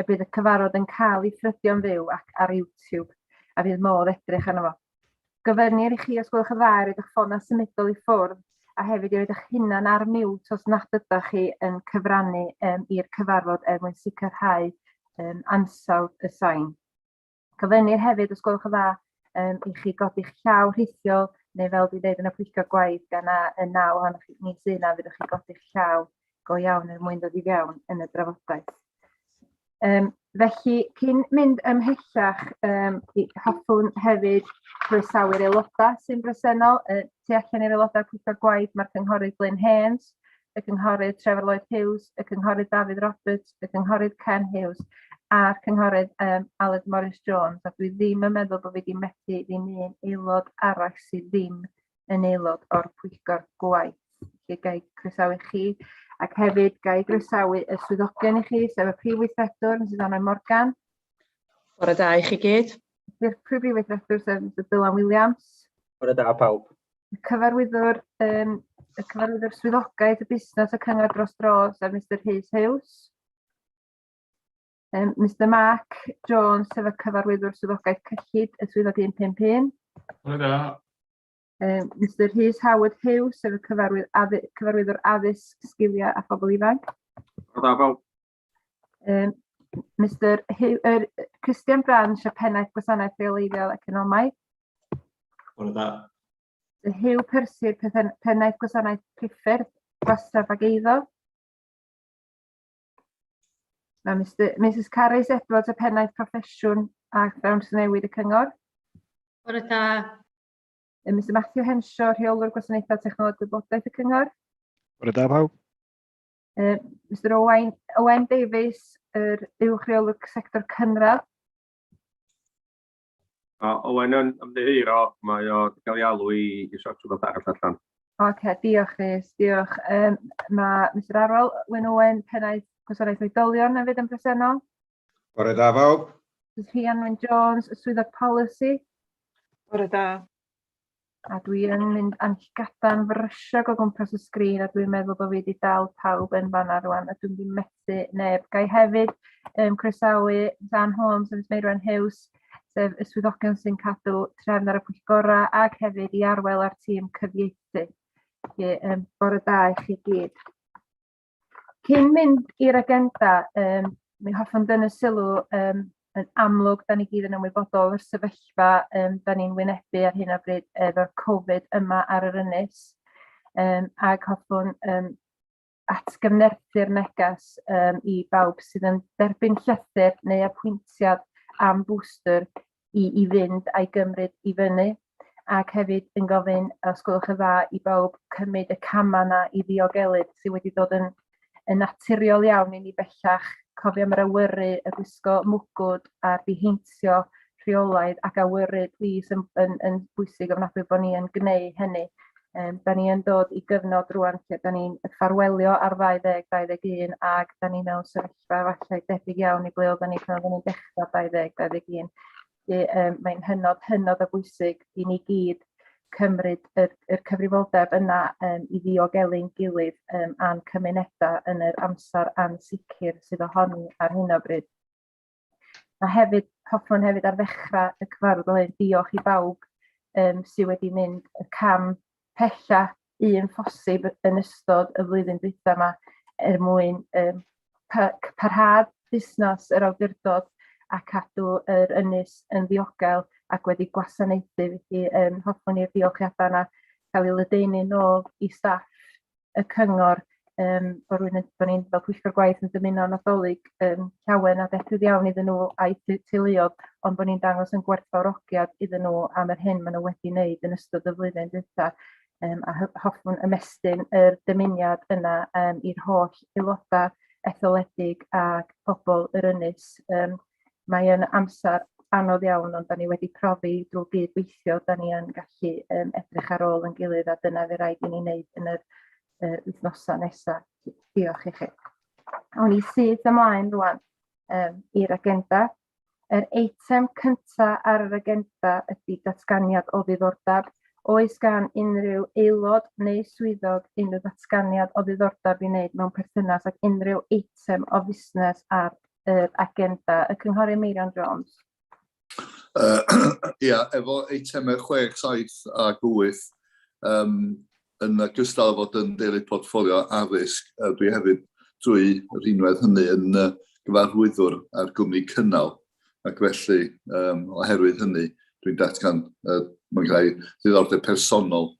y bydd y cyfarfod yn cael ei thrydio'n fyw ac ar YouTube, a fydd modd edrych arno fo. Gofynnir i chi, os gwelwch yn dda, i roed eich ffonau symudol i ffwrdd, a hefyd i roed eich hunan ar mute os nad ydych chi yn cyfrannu um, i'r cyfarfod er mwyn sicrhau um, ansawdd y sain. Gofynnir hefyd, os gwelwch yn dda, um, i chi godi'ch llaw rhithiol, neu fel dwi'n dweud yn y pwyllgor gwaith, gan na y naw ohonoch chi ni sy'n na, fyddwch chi godi'ch llaw go iawn er mwyn dod i fewn yn y drafodaeth. Um, felly, cyn mynd ymhellach, um, hoffwn hefyd croesawu'r aelodau sy'n bresennol. Uh, tu allan i'r aelodau pwyllgor gwaith, mae'r cynghorydd Glyn Haynes, y Cynghorydd Trevor Lloyd Hughes, y Cynghorydd Dafydd Roberts, y Cynghorydd Ken Hughes a'r Cynghorydd um, Aled Morris Jones, a dwi ddim yn meddwl bod fi wedi methu ddim un aelod arall sydd ddim yn aelod o'r pwyllgor gwaith. Felly gael croesawu chi, ac hefyd gael croesawu y swyddogion i chi, sef y Prif Weithredwr, Mrs Anna Morgan. Bore da i chi gyd. Di'r Prif Weithredwr, sef Mr Dylan Williams. Bore da pawb. y cyfarwyddwr yym y cyfarwyddwr swyddogaeth y busnes y cyngor dros dro sef Mister Rhys Hughes. Um, Mr Mark Jones sef y cyfarwyddwr swyddogaeth cyllid y swyddog 151. Hwyl da. Um, Mr Rhys Howard Hughes sef y cyfarwydd, addy, cyfarwyddwr addysg, sgiliau a phobl ifanc. Hwyl da, Bob. Um, Mr Hugh, er, Christian Branch y Pennaeth Gwasanaeth Rheoleiddiol Economaidd. Bore da. Hugh Percy, Pennaeth Gwasanaeth Priffyrdd, Gwastraff ac Eiddo. Mae Mr, Mrs Carys Edwards y Pennaeth Proffesiwn a Dawns Newid y Cyngor. Bore da. Mr Matthew Henshaw, Rheolwr Gwasanaethau Technoleg Gwybodaeth y Cyngor. Bore da pawb. Yy Mister Owain Owen Davies, yr uwch reolwr sector cynradd. O, Owen yn ymddiheuro, mae o wedi cael ei alw i, i sort rhywbeth arall allan. Oce, okay, diolch Rhys, diolch. Um, mae Mr Arwel, Wyn Owen, pennaeth Gwasanaeth Oedolion yn fyd yn presennol. Bore da fawb. Rhian Wyn Jones, y swyddog polisi. Bore da. A dwi yn mynd am gadarn frysiog o gwmpas y sgrin a dwi'n meddwl bod fi wedi dal pawb yn fanna rwan a dwi'n mynd i methu neb. Ga i hefyd um, croesawu Dan Holmes a Meirwen Hughes, sef y swyddogion sy'n cadw trefn ar y pwyllgora ac hefyd i arwel ar tîm cyfieithu. Felly, um, bore da i chi gyd. Cyn mynd i'r agenda, um, mi hoffwn dyn y sylw um, yn amlwg, da ni gyd yn ymwybodol o'r sefyllfa um, da ni'n wynebu ar hyn o bryd efo'r Covid yma ar yr ynys. Um, ac hoffwn um, atgyfnerthu'r neges um, i bawb sydd yn derbyn llythyr neu apwyntiad am bwstr i, i fynd a'i gymryd i fyny ac hefyd yn gofyn, os gwelwch yn dda, i bawb cymryd y camau yna i ddiogelu sydd wedi dod yn, yn naturiol iawn i ni bellach. Cofio am yr awyru, y gwisgo mwgwd a'r diheintio rheolaidd ac awyru plis yn, yn, yn bwysig ofnadwy bod ni yn gwneud hynny. Um, da ni yn dod i gyfnod rwan lle da ni'n ffarwelio ar 2021 ac da ni mewn sefyllfa sefyllfa falle debyg iawn i ble oedden ni pan oedden ni'n dechrau 20, 21. Um, mae'n hynod, hynod o bwysig i ni gyd cymryd y, y cyfrifoldeb yna um, i ddiogelu'n gilydd um, a'n cymunedau yn yr amser ansicr sydd ohoni ar hyn o bryd. Mae hefyd, hoffwn hefyd ar ddechrau y cyfarfod o hyn, diolch i bawb um, sydd wedi mynd y cam pella un phosib yn ystod y flwyddyn dwytha yma er mwyn um, parhad busnes yr awdurdod a cadw yr ynys yn ddiogel ac wedi gwasanaethu. Felly um, hoffwn i'r diolchiadau yna cael ei ledaenu nôl i staff y cyngor yym bod rwy'n yn bod ni'n fel pwyllgor gwaith yn dymuno Nadolig yym llawen a debyg iawn iddyn nhw a'i t- teuluodd ond bod ni'n dangos yn gwerthfawrogiad iddyn nhw am yr hyn maen nhw wedi wneud yn ystod y flwyddyn dwytha yym a hy- hoffwn ymestyn yr dymuniad yna yym i'r holl aelodau etholedig ac pobl yr ynys yym mae yn amser anodd iawn ond da ni wedi profi drwy gyd-weithio da ni yn gallu yym edrych ar ôl yn gilydd a dyna fe raid i ni wneud yn yr y wythnosau nesaf. Diolch i chi. Awn ni syth ymlaen rwan um, i'r agenda. Yr eitem cyntaf ar yr agenda ydy datganiad o ddiddordeb. Oes gan unrhyw aelod neu swyddog unrhyw ddatganiad o ddiddordeb i wneud mewn perthynas ac unrhyw eitem o fusnes ar yr agenda? Y Cynghorydd Meirion Jones. Uh, ia, efo eitemau 6, 7 ac 8, um, yn gystal fod yn deulu portffolio addysg, uh, dwi hefyd drwy rhinwedd hynny yn uh, gyfarwyddwr ar gwmni cynnal, ac felly um, oherwydd hynny dwi'n datgan uh, mae'n rhai ddiddordeb personol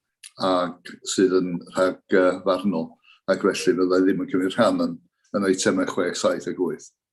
ac sydd yn rhag uh, farnol, ac felly fyddai ddim yn cymryd rhan yn, yn eitemau 6, 7 ac 8.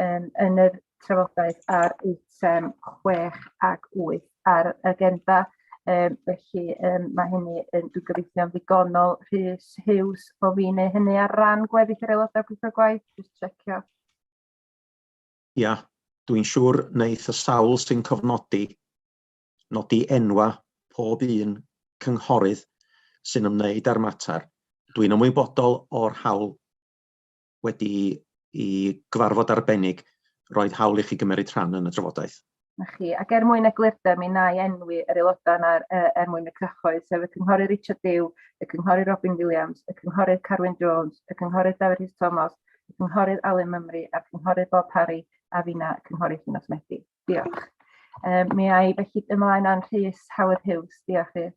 yym yn y trafodaeth ar eitem chwech ac wyth ar yr agenda, yym felly yym ma' hynny yn dwi'n gobeithio'n ddigonol. Rhys Hughes, bo' fi'n neu' hynny ar ran gweddill yr aelodau pwyllgor gwaith, jyst checio. Ia, dwi'n siŵr wneith y sawl sy'n cofnodi nodi enwa pob un cynghorydd sy'n ymwneud â'r mater. Dwi'n ymwybodol o'r hawl wedi i gyfarfod arbennig roedd hawl i chi gymryd rhan yn y drafodaeth. Na chi. Ac er mwyn eglurder, mi na i enwi yr aelodau yna er, er mwyn y cyhoedd, sef y Cynghorydd Richard Dew, y Cynghorydd Robin Williams, y Cynghorydd Carwyn Jones, y Cynghorydd Dafydd Rhys Thomas, y Cynghorydd Alun Mymru a'r Cynghorydd Bob Parry a fina y Cynghorydd Llinos Medi. Diolch. Um, mi ai felly ymlaen â'n Rhys Howard Hughes. Diolch Rhys.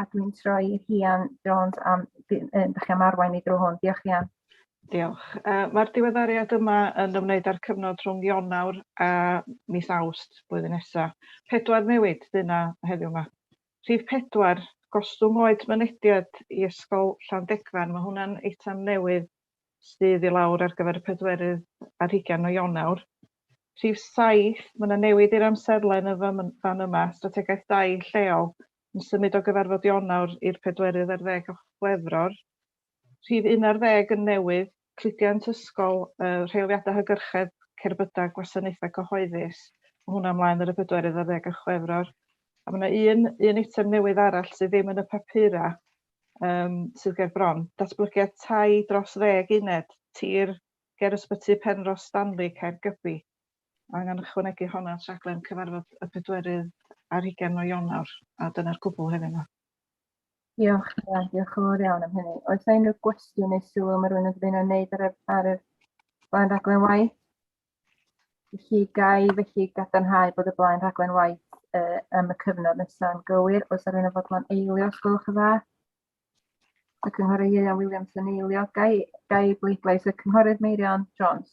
a dwi'n troi i Rhian Jones am ddechrau chi am arwain i drwy hwn. Diolch Rhian. Diolch. Uh, Mae'r diweddariad yma yn ymwneud â'r cyfnod rhwng Ionawr a mis Awst blwyddyn nesaf. Pedwar newid dyna heddiw yma. Rhif pedwar, gostwng oed mynediad i ysgol Llandegfan. Mae hwnna'n eitem newydd sydd i lawr ar gyfer y pedwerydd ar hugain o Ionawr. Rhif saith, mae yna newid i'r amserlen yn fan yma, strategaeth dau lleol yn symud o gyfarfod Ionawr i'r pedwerydd ar ddeg o Chwefror. Rhif un ar ddeg yn newydd, cludiant ysgol, yy rheoliadau hygyrchedd, cerbydau, gwasanaethau cyhoeddus, ma' hwnna ymlaen ar y pedwerydd ar ddeg o Chwefror. A ma' 'na un un eitem newydd arall sydd ddim yn y papura, yym sydd ger bron, datblygiad tai dros ddeg uned, tir ger Ysbyty Penrhos Stanley, Caergybi. angen ychwanegu hon at raglen cyfarfod y pedwerydd ar hugain o Ionawr, a dyna'r cwbl hefyd yma. Diolch, Ia, diolch yn fawr iawn am hynny. Oes yna unrhyw gwestiwn neu sylw mae rhywun yn dymuno wneud ar y, ar y blaen raglen waith? Felly gai felly gadarnhau bod y blaen rhaglen waith uh, am y cyfnod nesaf yn gywir. Oes yna rhywun yn fodlon eilio, os gwelwch yn dda? Y cynghorydd Ieuan Williams yn eilio. Gai, gai bleidlais y cynghorydd Meirion Jones?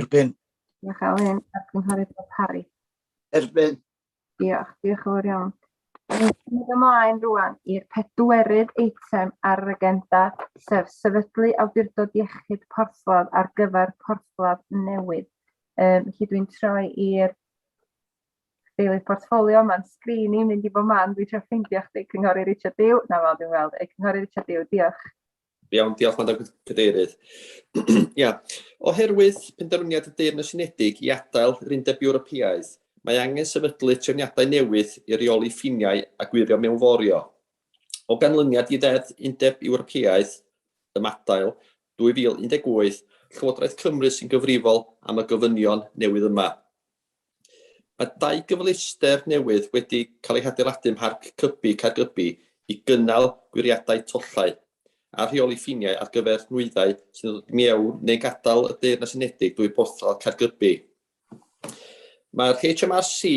Erbyn. Diolch Elin, a'r Cynghorydd Bob Parry. Erbyn. Diolch, diolch yn fawr iawn. Mynd ymlaen rwan i'r pedwerydd eitem ar yr agenda, sef sefydlu awdurdod iechyd porthladd ar gyfer porthladd newydd. Um, felly dwi'n troi i'r deilydd portfolio, mae'n sgrin i'n mynd i bob man, dwi'n troi ffeindio chdi, Cynghori Richard Dew, na fel dwi'n weld, Cynghori Richard Dew, diolch. Iawn, diolch Madam Cadeirydd. Ia, oherwydd penderfyniad y Deyrnas Unedig i adael yr Undeb Ewropeaidd, mae angen sefydlu trefniadau newydd i reoli ffiniau a gwirio mewnforio. O ganlyniad i Ddeddf Undeb Ewropeaidd Ymadael 2018, Llywodraeth Cymru sy'n gyfrifol am y gofynion newydd yma. Mae dau gyfleuster newydd wedi cael eu hadeiladu ym Mharc Cybi, Caergybi, i gynnal gwiriadau tollau a rheoli ffiniau ar gyfer nwyddau sy'n dod i mewn neu'n gadael y Deyrnas Unedig drwy Borthladd Caergybi. Mae'r HMRC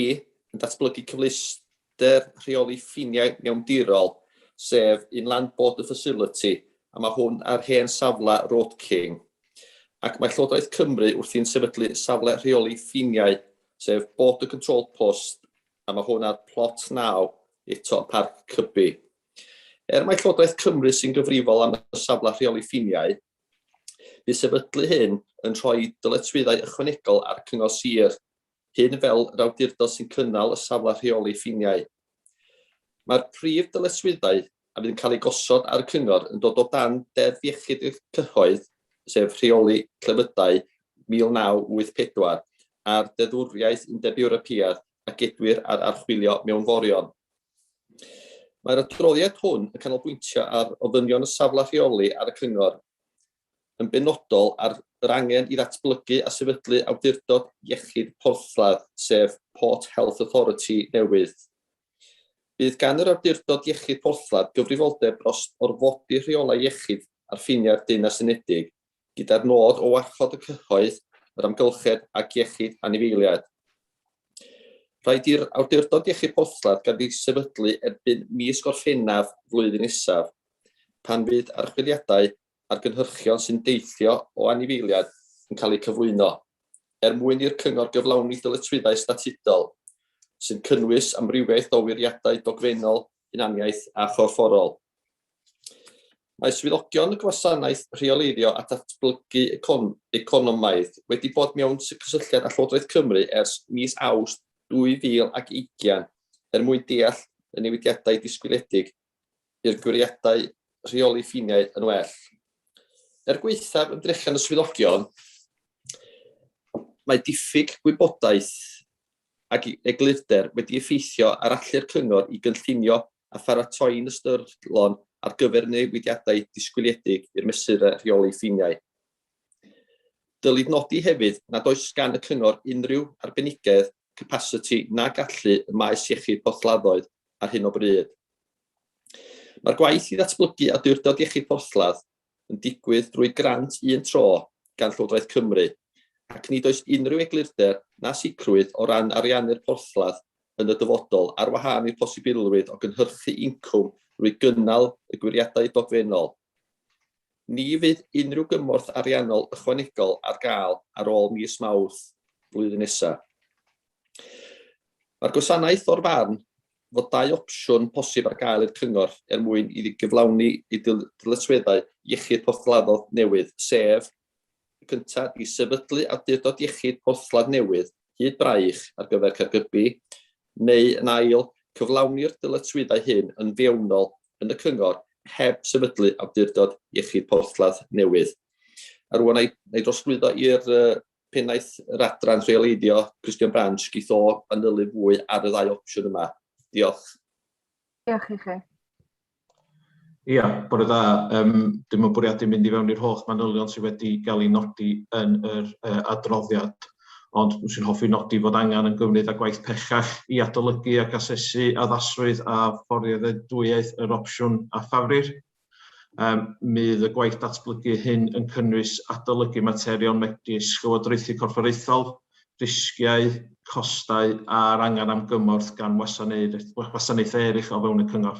yn datblygu cyfleuster Deddf Rheoli Ffiniau Mewndirol, sef un Land Border Facility, a mae hwn ar hen safle Road King. Ac mae Llywodraeth Cymru wrthi'n sefydlu safle rheoli ffiniau, sef Border Control Post, a mae hwn ar plot 9, eto yn Parc Cybi. Er mae Llywodraeth Cymru sy'n gyfrifol am y safle rheoli ffiniau, bydd sefydlu hyn yn rhoi dyletswyddau ychwanegol ar Cyngor Sir hyn fel yr awdurdod sy'n cynnal y safle rheoli ffiniau. Mae'r prif dyletswyddau a fydd yn cael eu gosod ar y Cyngor yn dod o dan Deddf Iechyd y Cyhoedd, sef Rheoli Clefydau 1984, a'r Deddfwriaeth Undeb Ewropeaidd a gedwir ar archwilio mewnforion. Mae'r adroddiad hwn yn canolbwyntio ar ofynion y safle rheoli ar y Cyngor. yn benodol ar yr angen i ddatblygu a sefydlu awdurdod iechyd porthladd, sef Port Health Authority newydd. Bydd gan yr awdurdod iechyd porthladd gyfrifoldeb dros orfodi rheolau iechyd ar ffiniau'r Deyrnas Unedig, gyda'r nod o warchod y cyhoedd, yr amgylchedd ac iechyd anifeiliaid. Rhaid i'r awdurdod iechyd porthladd gael ei sefydlu erbyn mis Gorffennaf flwyddyn nesaf, pan fydd archwiliadau a'r gynhyrchion sy'n deillio o anifeiliaid yn cael eu cyflwyno, er mwyn i'r Cyngor gyflawni dyletswyddau statudol sy'n cynnwys amrywiaeth o wiriadau dogfennol, hunaniaeth a chorfforol. Mae swyddogion y Gwasanaeth Rheoleiddio a Datblygu Econ Economaidd wedi bod mewn cysylltiad â Llywodraeth Cymru ers mis Awst 2020 er mwyn deall y newidiadau disgwyliedig i'r gwiriadau rheoli ffiniau yn well. Er gwaethaf ymdrechion y swyddogion, mae diffyg gwybodaeth ac eglurder wedi effeithio ar allu'r cyngor i gynllunio a pharatoi'n ystyrlon ar gyfer newidiadau disgwyliedig i'r mesurau rheoli ffiniau. Dylid nodi hefyd nad oes gan y Cyngor unrhyw arbenigedd, capasiti na gallu ym maes iechyd porthladdoedd ar hyn o bryd. Mae'r gwaith i ddatblygu Awdurdod Iechyd Porthladd yn digwydd drwy grant un tro gan Llywodraeth Cymru ac nid oes unrhyw eglurder na sicrwydd o ran ariannu'r porthladd yn y dyfodol ar wahân i'r posibilrwydd o gynhyrchu incwm drwy gynnal y gwiriadau dogfennol. Ni fydd unrhyw gymorth ariannol ychwanegol ar gael ar ôl mis Mawrth flwyddyn nesaf. Mae'r gwasanaeth o'r farn fod dau opsiwn posib ar gael i'r cyngor er mwyn iddi gyflawni ei dyletswyddau iechyd porthladdodd newydd, sef, y cyntaf, i sefydlu awdurdod iechyd porthladd newydd hyd braich ar gyfer Caergybi, neu yn ail, cyflawni'r dyletswyddau hyn yn fewnol yn y cyngor heb sefydlu awdurdod iechyd porthladd newydd. A rwan na i drosglwyddo i'r pennaeth yr adran rheoleiddio, Christian Branch, geith o fanylu fwy ar y ddau opsiwn yma. Diolch. Diolch i chi. Ia, bore da. Um, dim yn bwriadu mynd i fewn i'r holl manylion sydd wedi cael ei nodi yn yr uh, adroddiad, ond swn i'n hoffi nodi fod angen yn gymryd â gwaith pellach i adolygu ac asesu addasrwydd a fforddiadwyedd yr opsiwn a ffafrir. Um, mydd y gwaith datblygu hyn yn cynnwys adolygu materion megis llywodraethu corfforaethol, risgiau, costau a'r angen am gymorth gan wasanaethau eraill o fewn y cyngor.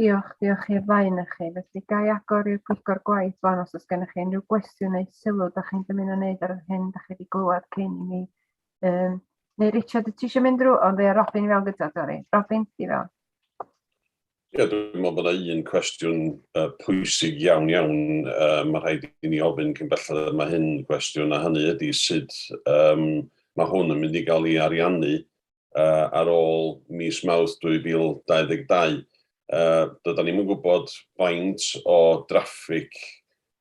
Diolch, diolch i'r ddau yna chi. Felly, ga i agor i'r pwyllgor gwaith fan os oes gennych chi unrhyw gwestiwn neu sylw da chi'n dymuno wneud ar yr hyn da chi wedi glywed cyn i mi. Um, neu Richard, ti eisiau mynd drwy? Ond ddeia Robin i fewn gyda, Dori. Robin, ti fewn. Ie, dwi'n meddwl bod yna un cwestiwn uh, pwysig iawn iawn uh, mae rhaid i ni ofyn cyn belled y mae hyn cwestiwn a hynny ydy sut um, mae hwn yn mynd i gael ei ariannu uh, ar ôl mis Mawrth 2022. Uh, Doedden ni'n gwybod faint o draffig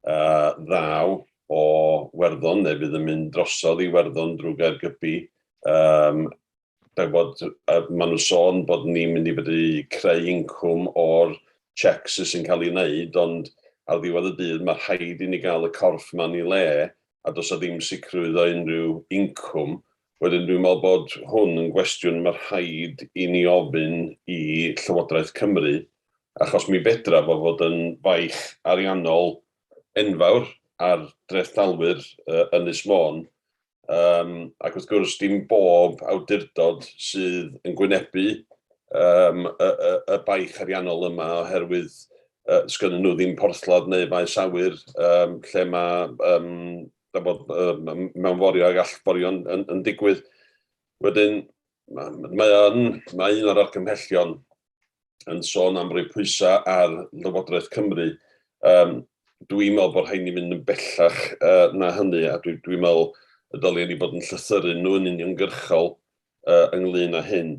uh, ddaw o Werddon neu fydd yn mynd drosodd i Werddon drwy Gaergybi. Um, Dau bod, uh, maen nhw'n sôn bod ni'n mynd i fedru creu incwm o'r checks sy'n cael ei wneud, ond ar ddiwedd y dydd mae rhaid i ni gael y corff ma'n i le a does o ddim sicrwydd o unrhyw incwm Wedyn dwi'n meddwl bod hwn yn gwestiwn mae rhaid i ni ofyn i Llywodraeth Cymru achos mi fedra fo fod yn faich ariannol enfawr ar drethdalwyr Ynys Môn yym ac wrth gwrs dim bob awdurdod sydd yn gwynebu yym y y y baich ariannol yma oherwydd yy sgynnyn nhw ddim porthladd neu faes awyr yym lle mae yym da bod, um, mewn forio ag allforio yn, yn, yn digwydd. Wedyn, mae, yn, mae un o'r argymhellion yn sôn am roi pwysau ar Lywodraeth Cymru. Um, dwi'n meddwl bod rhaid ni mynd yn bellach uh, na hynny, a dwi'n dwi meddwl y dylen ni bod yn llythyru nhw'n uniongyrchol ynglŷn â hyn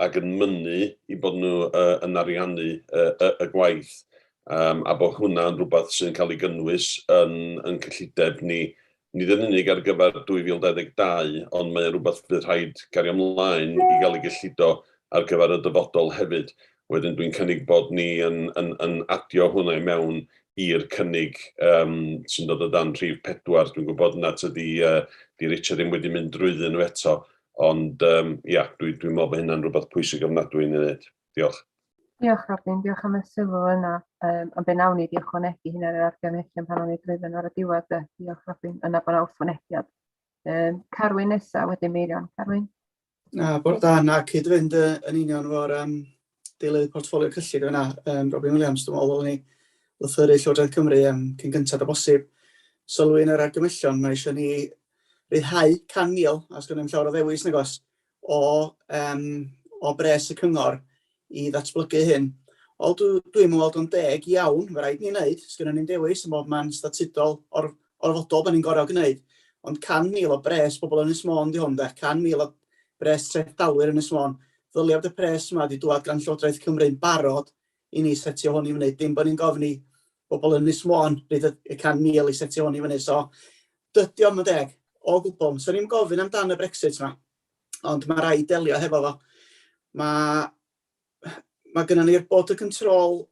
ac yn mynnu eu bod nhw yn ariannu y gwaith a bod hwnna yn rhywbeth sy'n cael ei gynnwys yn ein cyllideb ni, nid yn unig ar gyfer 2022 ond mae o'n rhywbeth bydd rhaid cario ymlaen i gael ei gyllido ar gyfer y dyfodol hefyd. Wedyn dwi'n cynnig bod ni yn yn yn adio hwnna i mewn i'r cynnig yym sy'n dod o dan rhif pedwar. Dwi'n gwybod nad ydi yy 'di Richard ddim wedi mynd drwyddyn nhw eto, ond yym ia, dwi dwi'n meddwl bod hynna'n rhywbeth pwysig ofnadwy i ni wneud. Diolch. Diolch Robin, diolch am y sylw yna. Um, ond be nawn ni di ychwanegu hyn ar yr argymhellion pan o'n i drwyddyn ar y diwedd. De. Diolch Robin, yna bod yna wrthwynebiad. Um, Carwyn nesa, wedyn Meirion. Carwyn? Na, bod da, na, cyd-fynd yn union fo'r um, deilydd portfolio cyllid yna, um, Robin Williams, dwi'n meddwl, ni lythyru Llywodraeth Cymru um, cyn gyntaf o bosib. Sylwi yn yr argymellion, mae eisiau ni ryddhau 100,000, a sgan ddim llawer o ddewis, nagos, o, um, o bres y cyngor i ddatblygu hyn. Wel, dw- dwi'm yn weld o'n deg iawn, mae rhaid ni wneud, sgynnon ni'n dewis ym mhob man statudol or- orfodol da ni'n gorau gwneud, ond 100,000 o bres pobl Ynys Môn 'di hwn de, 100,000 o bres trethdalwyr Ynys Môn. Ddylia bod y pres yma 'di dŵad gan Llywodraeth Cymru'n barod i ni setio hwn i fyny, dim bod ni'n gofyn i bobl Ynys Môn ryd y y 100,000 i setio hwn i fyny. So, dydy o'm yn deg, o gwbl. So ni'n gofyn amdan y Brexit 'ma. ond mae rhaid delio hefo fo. Mae, mae gennym ni'r bod y control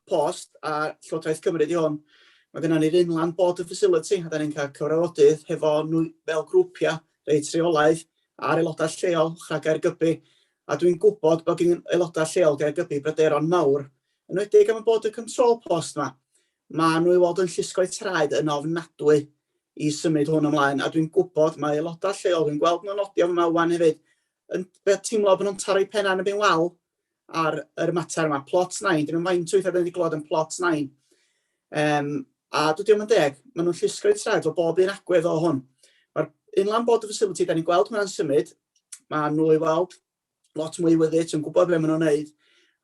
post a Llywodraeth Cymru di hwn. Mae gennym ni'r unlan bod y facility, a da ni'n cael cyfrafodydd hefo nhw fel grwpiau, reit rheolaidd, a'r aelodau lleol rhag gair gybu. A dwi'n gwybod bod gen aelodau lleol gair gybu bryderon mawr, yn wedi am y bod y control post yma. Maen nhw i weld yn llusgo'u traed yn ofnadwy i symud hwn ymlaen, a dwi'n gwybod mae aelodau lleol, dwi'n gweld nhw'n nodio f'ma wan hefyd, yn teimlo bod nhw'n taro'u pennau yn y bin wal ar yr mater yma. Plot 9, dim yn faint o weithiau dyn ni wedi glod yn plot 9. Um, a dydy o'm yn deg, maen nhw'n llusgo'u traed o bob un agwedd o hwn. Mae'r inland border facility, da ni'n gweld hwnna'n symud, maen nhw i weld lot mwy wyddys, yn gwybod beth maen nhw'n wneud,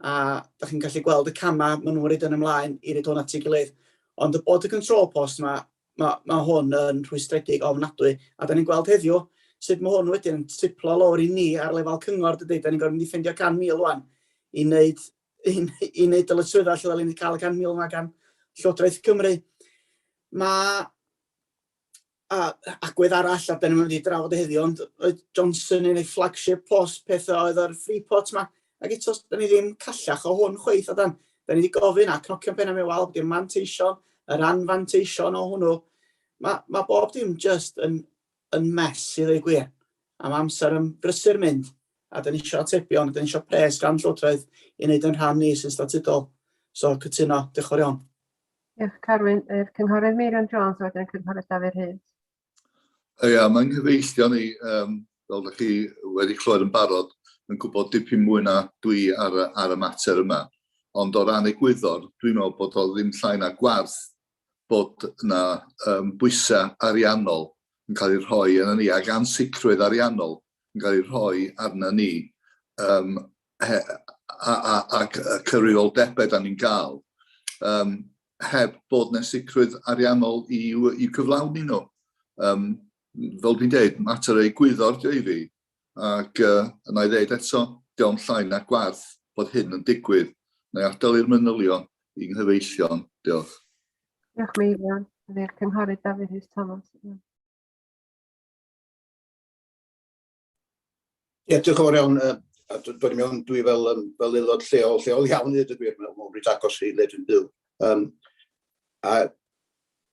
a da chi'n gallu gweld y camau maen nhw'n rhaid yn ymlaen i reid hwn at ei gilydd. Ond y bod y control post yma, mae, mae hwn yn rhwystredig ofnadwy, a da ni'n gweld heddiw sut mae hwn wedyn yn triplo lawr i ni ar lefel cyngor, dydy, da ni'n gorfod mynd i ffeindio 100,000 rwan i wneud, i, i wneud dyletswyddau lle da ni'n cael y 100,000 yma gan Llywodraeth Cymru. Mae a agwedd arall, a dyn ni'n mynd i drafod e heddiw, ond oedd Johnson yn ei flagship post pethau oedd yr free pot yma, ac eto, dyn ni ddim callach o hwn chweith, a dan, dyn ni wedi gofyn a cnocio'n penna mewn wal, bod manteision, yr anfanteision o hwnnw. Mae, mae bob dim just yn, yn mes i ddweud gwir, a mae amser yn brysur mynd, a dyn ni eisiau atebion, a dyn ni eisiau pres gan Llywodraeth i wneud yn rhan ni sy'n statudol. So, cytuno, diolch yn fawr iawn. Diolch, Carwyn. Yr Cynghorydd Meirion Jones a wedyn y Cynghorydd Dafydd Rhys. Ia, mae'n nghyfeillio ni, um, fel ydych chi wedi clywed yn barod, yn gwybod dipyn mwy na dwi ar, ar y mater yma. Ond o ran egwyddor, dwi'n meddwl bod o ddim llai na gwarth bod yna um, bwysau ariannol yn cael ei rhoi yna ni, ac ansicrwydd ariannol yn cael ei rhoi arna ni um, ac y cyfrifoldebau da ni'n gael, um, heb bod na sicrwydd ariannol i, i cyflawni nhw. Um, fel dwi'n dweud, mater ei gwyddor dio i fi, ac uh, yna i ddeud eto, diolch yn llai na gwarth bod hyn yn digwydd, neu adael i'r manylion i'n nghyfeillion. Diolch. Diolch, Meirion. Ydy'r cynghorydd Dafydd Rhys Thomas. Ie, diolch yn fawr iawn. Yy a dw- dwi mewn dwi fel yym fel aelod lleol, lleol iawn i ddeud y gwir, mewn mewn reit agos i le dwi'n byw. Yym a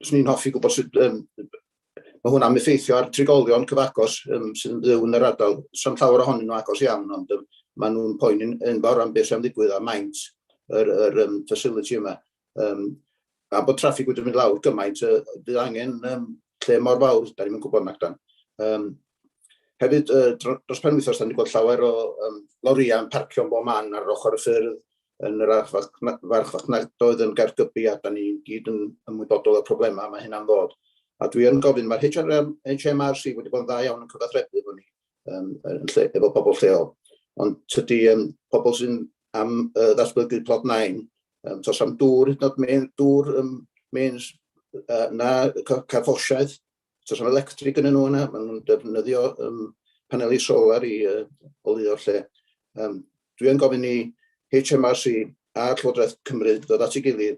swn i'n hoffi gwybod sut yym ma' hwnna'n effeithio ar trigolion cyfagos yym sydd yn byw yn yr ardal. Sa'm llawer ohonyn nhw agos iawn ond yym ma' nhw'n poeni'n enfawr am beth sy'n digwydd a maint yr yr yym facility yma. Um, a bod traffig wedi mynd lawr gymaint, uh, bydd angen um, lle mor fawr, da ni'n mynd gwybod nac dan. Um, hefyd, uh, dros pen wythnos, da ni'n gweld llawer o um, loriau yn parcio yn bob man ar ochr y ffyrdd yn yr archfarchnadoedd yn gargybu a da ni gyd yn ymwybodol o'r problemau mae hynna'n ddod. A dwi yn gofyn, mae'r HMRC wedi bod yn dda iawn yn cyfathrebu efo ni um, yn lle, efo pobl lleol. Ond tydy um, pobl sy'n am uh, ddatblygu plod nain, um, tos am dŵr, hyd yn oed mewn dŵr um, means, uh, na carfosiaeth, tos am electric yn nhw yna, maen nhw'n defnyddio um, paneli solar i uh, olio'r lle. Um, Dwi'n gofyn i HMRC a Llywodraeth Cymru ddod at ei gilydd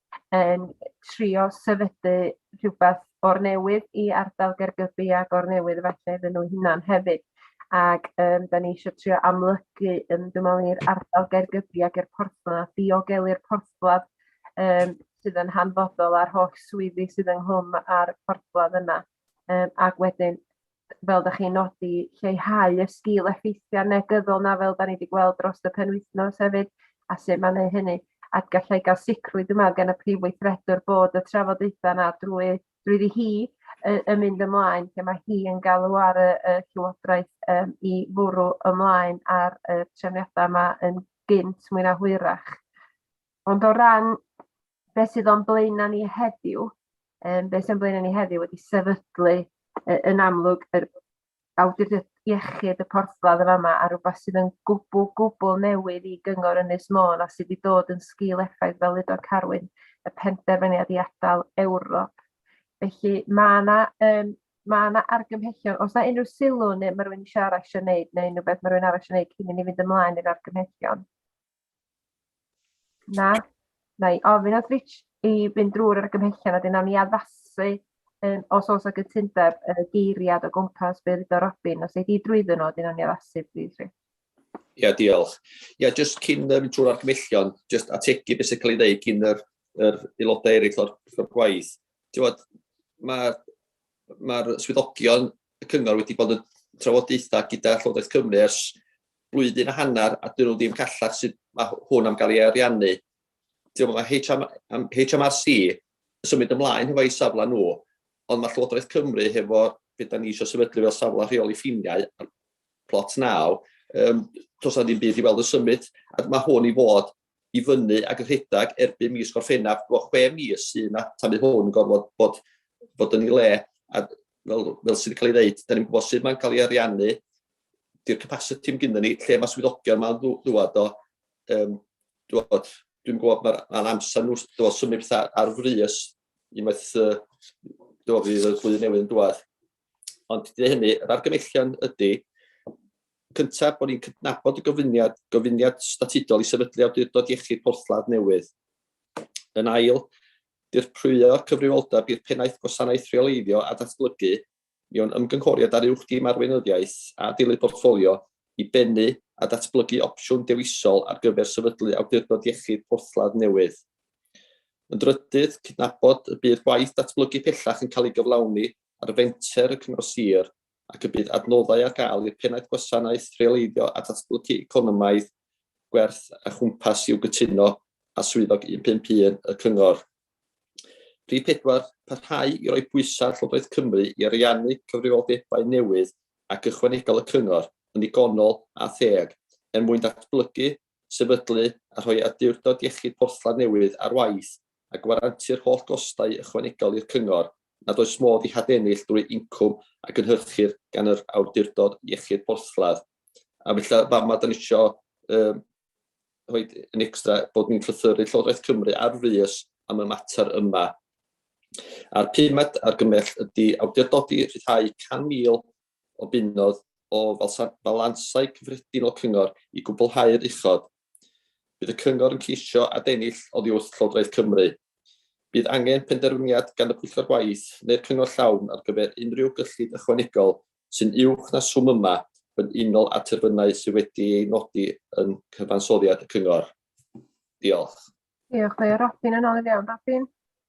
yn trio sefydlu rhywbeth o'r newydd i ardal Gaergybi a Gornewydd efallai iddyn nhw hunan hefyd. Ac um, da ni eisiau trio amlygu yn dwi'n meddwl i'r ardal Gaergybi ac i'r porthladd, diogelu'r porthladd um, sydd yn hanfodol a'r holl swyddi sydd ynghlwm a'r porthladd yna. Um, ac wedyn fel da chi'n nodi, lleihau y sgil effeithiau negyddol na fel da ni wedi gweld dros y penwythnos hefyd, a sut mae'n ei hynny. A gallai gael sicrwydd yma gen y prif weithredwr bod y trafodaethau yna drwy, drwy hi yn mynd ymlaen, lle mae hi yn galw ar y, y Llywodraeth um, i fwrw ymlaen ar y trefniadau yma yn gynt mwy na hwyrach. Ond o ran beth sydd o'n blaenau ni heddiw, um, beth sy'n blaenau ni heddiw wedi sefydlu uh, yn amlwg yr awdurdod iechyd y porthladd yn yma a rhywbeth sydd yn gwbl gwbl newydd i gyngor Ynys Môn a sydd wedi dod yn sgil effaith fel udo Carwyn y penderfyniad i adael Ewrop. Felly mae yna um, mae yna argymhellion, os yna unrhyw sylw neu mae rhywun eisiau arall eisiau gwneud neu unrhyw beth mae rhywun arall eisiau gwneud cyn i ni fynd ymlaen i'r argymhellion. Na. Na i ofyn at Rich i fynd drwy'r argymhellion a wedyn nawn ni addasu yym os o's 'na gytundeb yy geiriad o gwmpas be' ddedodd Robin os ei di drwyddo nw a wedyn nawn ni addasu plîs Rich. Ia diolch. Ia jyst cyn yy mynd trwy'r argymhellion jyst ategu be' sy'n ca'l 'i ddeud gin yr yr aelodau eryll o'r pwyllgor gwaith. T'wod ma' ma'r swyddogion y cyngor wedi bod yn trafodaetha gyda Llywodraeth Cymru ers blwyddyn a hanner a dyn nhw ddim callach sydd mae hwn am gael ei ariannu. Dwi'n meddwl HM, am HMRC yn symud ymlaen hefo ei safle nhw, ond mae Llywodraeth Cymru hefo beth da ni eisiau sefydlu fel safle rheoli ffiniau a'r plot naw, um, tos na ddim byd i weld y symud, a mae hwn i fod i fyny ac yn rhedeg erbyn mis Gorffennaf, dwi'n meddwl chwe mis sydd yna tan bydd hwn yn gorfod bod, bod yn ei le, a fel, fel sydd wedi cael ei ddeud, da ni'n gwybod sut mae'n cael ei ariannu, di'r capasiti yn gyda ni, lle mae swyddogion mae'n ddwad o, um, dwod, dwi'n gwybod mae'r ma amser nhw dwod, symud pethau ar frys unwaith uh, dwod, fydd y flwyddyn newydd yn dwad. Ond dy hynny, yr argymellion ydy, cyntaf bod ni'n cydnabod y gofyniad, gofyniad statudol i sefydlu awdurdod iechyd porthladd newydd. Yn ail, dirprwyo cyfrifoldeb i'r pennaeth gwasanaeth rheoleiddio a datblygu mewn ymgynghoriad ar uwch dîm arweinyddiaeth a dilyd portffolio i bennu a datblygu opsiwn dewisol ar gyfer sefydlu awdurdod iechyd porthladd newydd. Yn drydydd, cydnabod y bydd gwaith datblygu pellach yn cael ei gyflawni ar fenter y Cyngor Sir ac y bydd adnoddau ar gael i'r Pennaeth Gwasanaeth Rheoleiddio a Datblygu Economaidd, Gwerth a Chwmpas i'w gytuno â Swyddog 151 y Cyngor. Rhif 4. Parhau i roi pwysau ar Llywodraeth Cymru i ariannu cyfrifoldebau newydd ac ychwanegol y Cyngor yn ddigonol a theg er mwyn datblygu sefydlu a rhoi awdurdod iechyd porthladd newydd ar waith a gwarantu'r holl gostau ychwanegol i'r cyngor nad oes modd eu hadennill drwy incwm a gynhyrchir gan yr awdurdod iechyd porthladd. A felly fama da ni isio um, rhoi yn extra bod ni'n llythyru Llywodraeth Cymru ar frys am y mater yma. A'r pumed argymell ydy awdurdodi rhyddhau 100,000 o bunnoedd o falansau cyffredinol cyngor i gwblhau'r uchod. Bydd y cyngor yn ceisio adennill oddi wrth Llywodraeth Cymru. Bydd angen penderfyniad gan y Pwyllgor Gwaith neu'r Cyngor Llawn ar gyfer unrhyw gyllid ychwanegol sy'n uwch na swm yma yn unol â terfynau sydd wedi eu nodi yn cyfansoddiad y cyngor. Diolch. Diolch. Mae Robin yn ôl i fewn. Robin?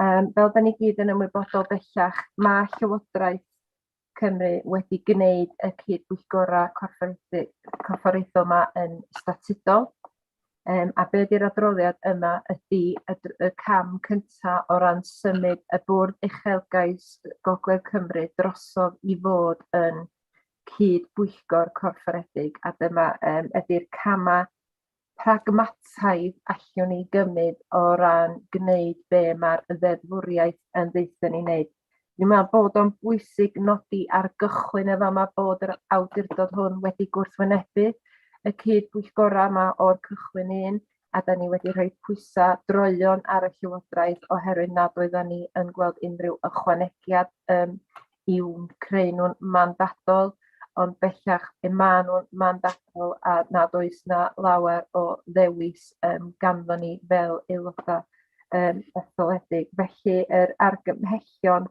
Um, fel da ni gyd yn ymwybodol bellach, mae Llywodraeth Cymru wedi gwneud y cyd-bwyllgorau corfforaethol yma yn statudol. Um, a be ydy'r adroddiad yma ydy y, y cam cyntaf o ran symud y bwrdd uchelgais Gogledd Cymru drosodd i fod yn cyd-bwyllgor corfforedig a dyma um, ydy'r camau pragmataidd allwn ni gymryd o ran gwneud be mae'r ddeddfwriaeth yn ddeitha ni wneud. Dwi'n meddwl bod o'n bwysig nodi ar gychwyn y fama bod yr awdurdod hwn wedi gwrthwynebu y cyd bwyllgorau yma o'r cychwyn un, a da ni wedi rhoi pwysau droion ar y Llywodraeth oherwydd nad oedden ni yn gweld unrhyw ychwanegiad um, i'w creu nhw'n mandadol, ond bellach y maen nhw'n mandadol a nad oes na lawer o ddewis um, ganddo ni fel aelodau um, etholedig. Felly yr argymhellion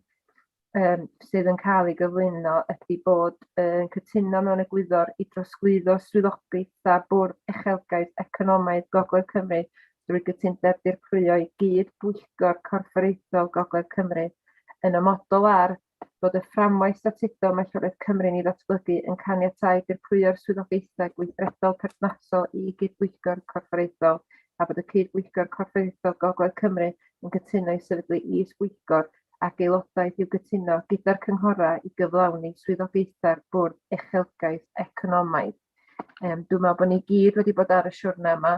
um, sydd yn cael ei gyflwyno ydy bod yn um, cytuno mewn egwyddor i drosglwyddo swyddogaethau bwrdd uchelgais economaidd Gogledd Cymru drwy gytundeb dirprwyo i gyd Bwyllgor Corfforaethol Gogledd Cymru, yn amodol ar fod y fframwaith statudol mae Llywodraeth Cymru'n ei ddatblygu yn caniatáu dirprwyo'r swyddogaethau gweithredol perthnasol i Gyd-bwyllgor Corfforaethol a bod y Cyd-bwyllgor Corfforaethol Gogledd Cymru yn cytuno i sefydlu Is-bwyllgor ac aelodaeth i'w gytuno gyda'r cynghorau i gyflawni swyddogaethau'r Bwrdd Uchelgais Economaidd. Um, dwi'n meddwl bod ni gyd wedi bod ar y siwrna yma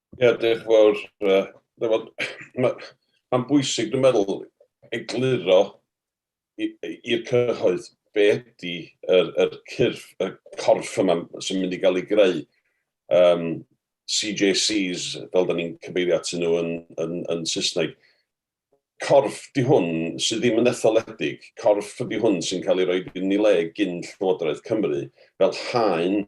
Ie, diolch fawr. Mae'n bwysig, dwi'n meddwl, egluro i'r cyhoedd be ydy yr, yr cyrff, y corff yma sy'n mynd i gael ei greu. Um, CJCs, fel da ni'n cyfeirio atyn nhw yn, yn, yn Saesneg, Corff 'di hwn sydd ddim yn etholedig, corff ydi hwn sy'n cael ei roi yn ei le gin Llywodraeth Cymru fel haen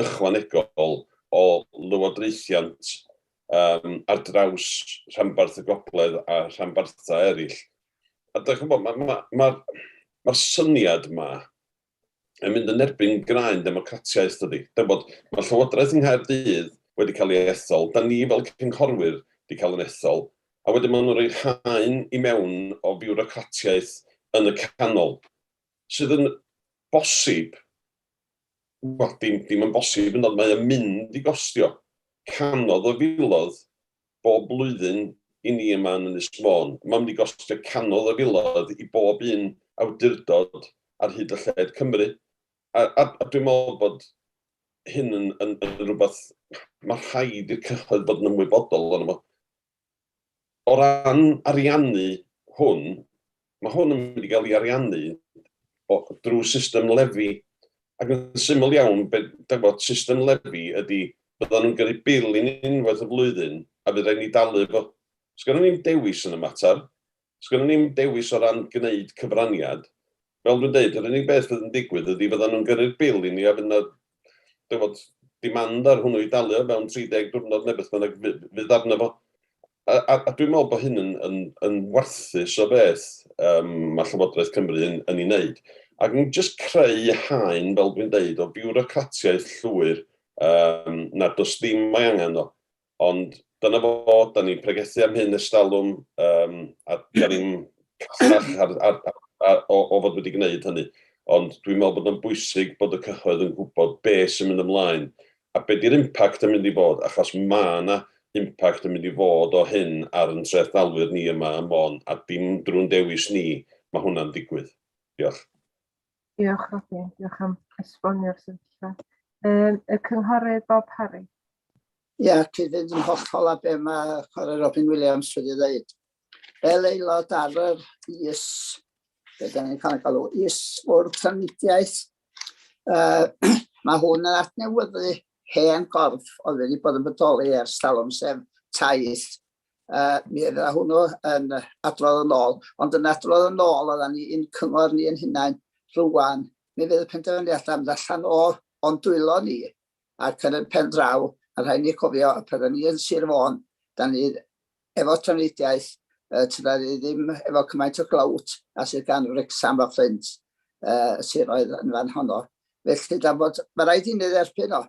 ychwanegol o lywodraethiant yym ar draws rhanbarth y gogledd a rhanbarthau eraill. A dach chi'n gwybod, ma' ma' ma'r ma'r syniad 'ma yn mynd yn erbyn graen democratiaeth dydi? Dach ch'bod, ma' Llywodraeth yng Nghaerdydd wedi cael ei ethol, 'dan ni fel cynghorwyr 'di cael yn ethol, a wedyn ma' nw'n rhoi'r haen i mewn o fiwrocratiaeth yn y canol, sydd yn bosib, wel dim dim yn bosib hyd yn o'd, mae o'n mynd i gostio canoedd o filoedd bob blwyddyn i ni yma yn Ynys Môn. Mae'n mynd i gostio cannoedd o filoedd i bob un awdurdod ar hyd a lled Cymru, a a a dwi'n meddwl bod hyn yn yn yn rhywbeth ma' rhaid i'r cyhoedd fod yn ymwybodol ohono fo. O ran ariannu hwn, Mae hwn yn mynd i gael ei ariannu o, drwy system lefi. Ac yn syml iawn, be, da bod, system lefi ydy, byddan nhw'n gyrru bil i ni unwaith y flwyddyn, a fydd rhaid ni dalu fo. Sgynnon ni'm dewis yn y mater. Sgynnon ni'm dewis o ran gwneud cyfraniad. Fel dwi'n deud, yr unig beth fydd yn digwydd ydy fyddan nhw'n gyrru'r bil i ni a fydd 'na dyfod, demand ar hwnnw i dalu o fewn 30 diwrnod neu beth bynnag fydd arno fo. A, a, a dwi'n meddwl bod hyn yn, yn, yn warthus o beth um, mae Llywodraeth Cymru yn, yn ei wneud. Ac yn jyst creu haen, fel dwi'n deud, o biwrocratiaeth llwyr um, nad oes dim mae angen o. Ond dyna fo, da ni'n pregethu am hyn ers talwm, um, a da ni'n casach ar, ar, ar, ar, o, o fod wedi gwneud hynny. Ond dwi'n meddwl bod o'n bwysig bod y cyhoedd yn gwybod be sy'n mynd ymlaen a be di'r impact yn mynd i fod, achos mae yna impact yn mynd i fod o hyn ar yn treth dalwyr ni yma ym Môn, a dim drwy'n dewis ni, mae hwnna'n digwydd. Diolch. Diolch, Robin. Diolch am esbonio'r sefyllfa. Um, y cynghorydd Bob Harry. Ie, yeah, cyd-fynd yn hollol a be mae Cora Robin Williams wedi dweud. Fel aelod ar yr is, be da ni'n cael ei galw, is o'r trafnidiaeth, uh, mae hwn yn adnewyddu hen gorff oedd wedi bod yn bodoli ers talwm sef taith uh, mi oedd hwnnw yn adrodd yn ôl, ond yn adrodd yn ôl oedden ni yn cyngor ni yn hunain rhywun, mi fydd y penderfyniad am allan o o'n dwylo ni, ac yn y pen draw, a rhaid ni cofio, y pethau ni yn Sir Fôn, da ni efo trafnidiaeth, uh, tyda ni ddim efo cymaint o glawt a sydd gan Wrexham a Fflint, uh, siroedd yn fan honno. Felly, da bod, mae rhaid i ni dderbyn o,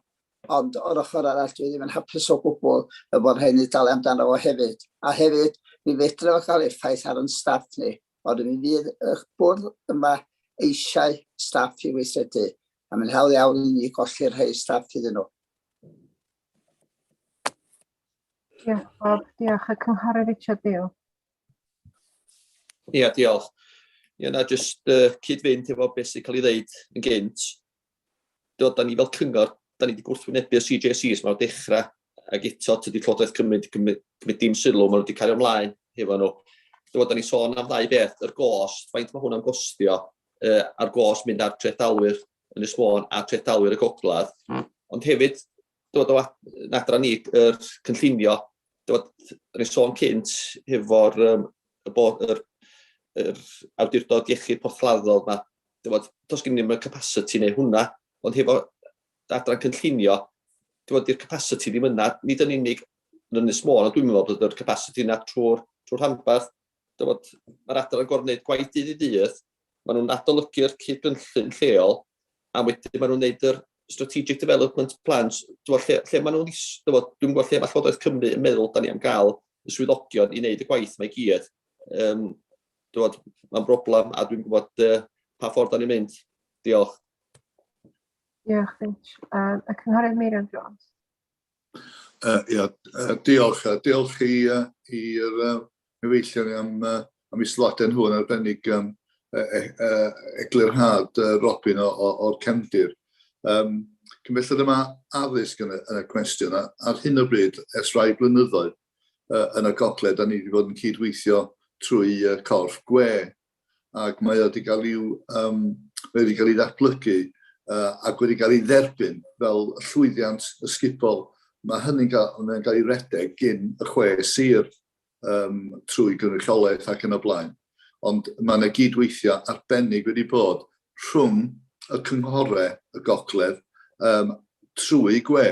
Ond o'r ochr arall, dwi ddim yn hapus o gwbl y bod rhaid ni dalu amdano fo hefyd. A hefyd, mi fedre fo cael effaith ar yn staff ni, ond mi fydd y bwrdd yma eisiau staff i weithredu, a mae'n hawdd iawn i ni golli'r rhai staff iddyn nhw. Diolch, Bob. Diolch. Y Cynghorydd Richard Beale. Ia, diolch. Ia, na, jyst uh, cyd-fynd efo beth sy'n cael ei ddeud yn gynt. da ni fel cyngor, da ni wedi gwrthwynebu y CJCs mae'r dechrau ac eto tydi Llywodraeth Cymru wedi cymryd dim sylw, maen nhw wedi cario ymlaen hefo nhw. Dyma, da ni sôn am ddau beth, yr gost, faint mae hwnna'n gostio, uh, a'r gost mynd ar trethdalwyr yn y sfôn a trethdalwyr y gogledd. Mm. Ond hefyd, dod o adran ni, yr cynllunio, dod, rhaid sôn cynt hefo'r um, bod yr, yr awdurdod iechyd porthladdodd yma, dod, dos gen i'n y capacity neu hwnna, ond hefo adran cynllunio, dod i'r capacity ddim yna, nid yn unig yn Ynys Môn, ond dwi'n meddwl bod yr capacity yna trwy'r trwy rhanbarth, Dywed, mae'r adran yn gorfod gwneud gwaith dydd i ddydd, maen nhw'n adolygu'r cyd-gynllun lleol, a wedyn maen nhw'n gwneud yr strategic development plans, dywed, lle, lle maen nhw'n is, dywed, dwi'n gwybod lle mae Llywodraeth Cymru yn meddwl da ni am gael y swyddogion i wneud y gwaith mae gyd. Um, dywed, mae'n broblem a dwi'n gwybod uh, pa ffordd da ni'n mynd. Diolch. Diolch, Finch. Um, y Cynghorydd Meirion Jones. Uh, ia, uh, diolch, uh, diolch i, uh, i'r uh, cyfeillion am, uh, am i sylwadau nhw yn arbennig um, e, e, e, eglurhad uh, Robin o'r cefndir. Um, Cymellad yma addysg yn y, yn y cwestiwn, a, ar hyn o bryd, ers rhai blynyddoedd uh, yn y gogled, da ni wedi bod yn cydweithio trwy uh, corff gwe ac mae o wedi cael i'w um, mae wedi cael ei ddatblygu uh, ac wedi cael ei dderbyn fel llwyddiant ysgubol. Mae hynny'n cael, mae cael ei redeg gyn y chwe sir um, trwy gynrychiolaeth ac yn y blaen. Ond mae yna gydweithio arbennig wedi bod rhwng y cynghorau y gogledd um, trwy gwe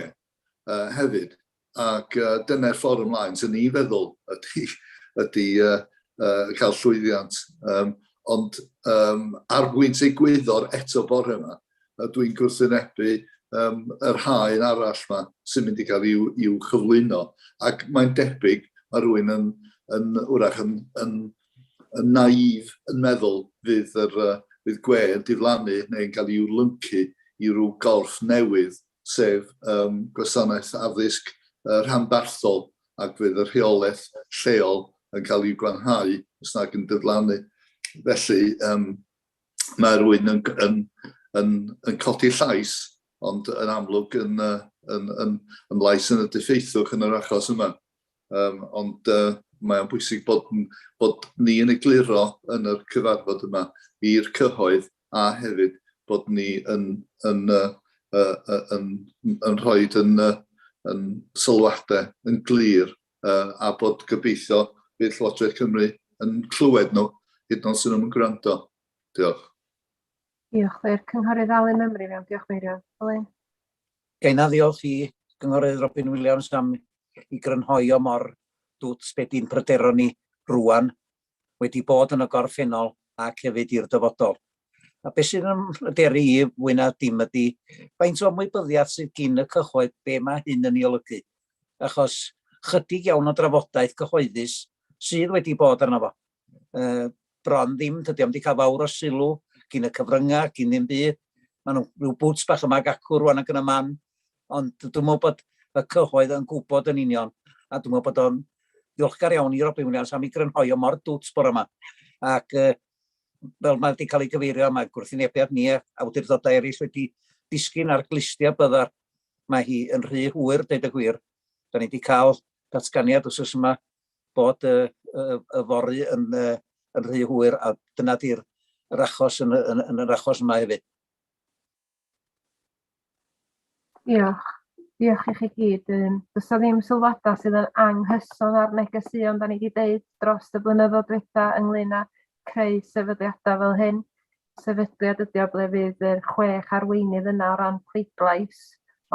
uh, hefyd. Ac uh, dyna'r ffordd ymlaen sy'n ni'n feddwl ydy, ydy uh, uh, cael llwyddiant. Um, ond um, ar bwynt ei gwyddor eto bore yma, uh, dwi'n gwrthwynebu um, yr haen arall yma sy'n mynd i gael i'w, i'w chyflwyno. Ac mae'n debyg, mae rhywun yn, yn wrach yn, yn, yn naif yn meddwl fydd, yr, uh, fydd gwe yn diflannu neu'n cael i'w lyncu i ryw gorff newydd sef um, gwasanaeth addysg uh, rhanbarthol ac fydd y rheolaeth lleol yn cael ei gwanhau os nag yn diflannu. Felly, um, mae rwy'n yn, yn, yn, yn codi llais, ond yn amlwg yn, uh, yn, yn, yn lais yn y diffeithwch yn yr achos yma. Um, ond uh, mae'n bwysig bod, bod ni yn egluro yn yr cyfarfod yma i'r cyhoedd a hefyd bod ni yn, yn, yn, yn rhoi yn, yn sylwadau yn glir a bod gobeithio bydd Llywodraeth Cymru yn clywed nhw hyd yn oed sy'n nhw'n gwrando. Diolch. Diolch. Fe'r Cynghorydd Alun Ymru mewn. Diolch Meirio. Alun. Gaina ddiolch i Gynghorydd Robin Williams am i grynhoi o mor dwt beth i'n pryderon ni rwan wedi bod yn y gorffennol ac hefyd i'r dyfodol. A beth sydd yn mhryderu i fwy na dim ydy faint o ymwybyddiaeth sydd gin y cyhoedd be mae hyn yn ei olygu, achos chydig iawn o drafodaeth cyhoeddus sydd wedi bod arno fo uh, bron ddim, dydy o'm wedi cael fawr o sylw gin y cyfryngau, gin ddim byd. Mae nhw rhyw bwts bach yma ac acw rwan ac yn y man, Ond dwi'n meddwl bod y cyhoedd yn gwybod yn union, a dwi'n meddwl bod o'n ddiolchgar iawn i Robin Williams am ei grynhoi o mor dwt bore yma. Ac uh, fel mae wedi cael ei gyfeirio, mae gwrthynebiad ni a awdurdodau eraill wedi disgyn ar glustiau byddar. Mae hi yn rhy hwyr, dweud y gwir. Da ni wedi cael datganiad os oes yma bod y, y, y fory yn, uh, yn rhy hwyr a dyna di'r achos yn, yn, yn yr achos yma hefyd. Diolch. Diolch i chi gyd. Yym does 'na ddim sylwadau sydd yn anghyson â'r negeseuon 'dan ni 'di deud dros y blynyddoedd dwetha' ynglŷn â creu sefydliadau fel hyn. Sefydliad ydi o ble fydd yr chwech arweinydd yna o ran pleidlais,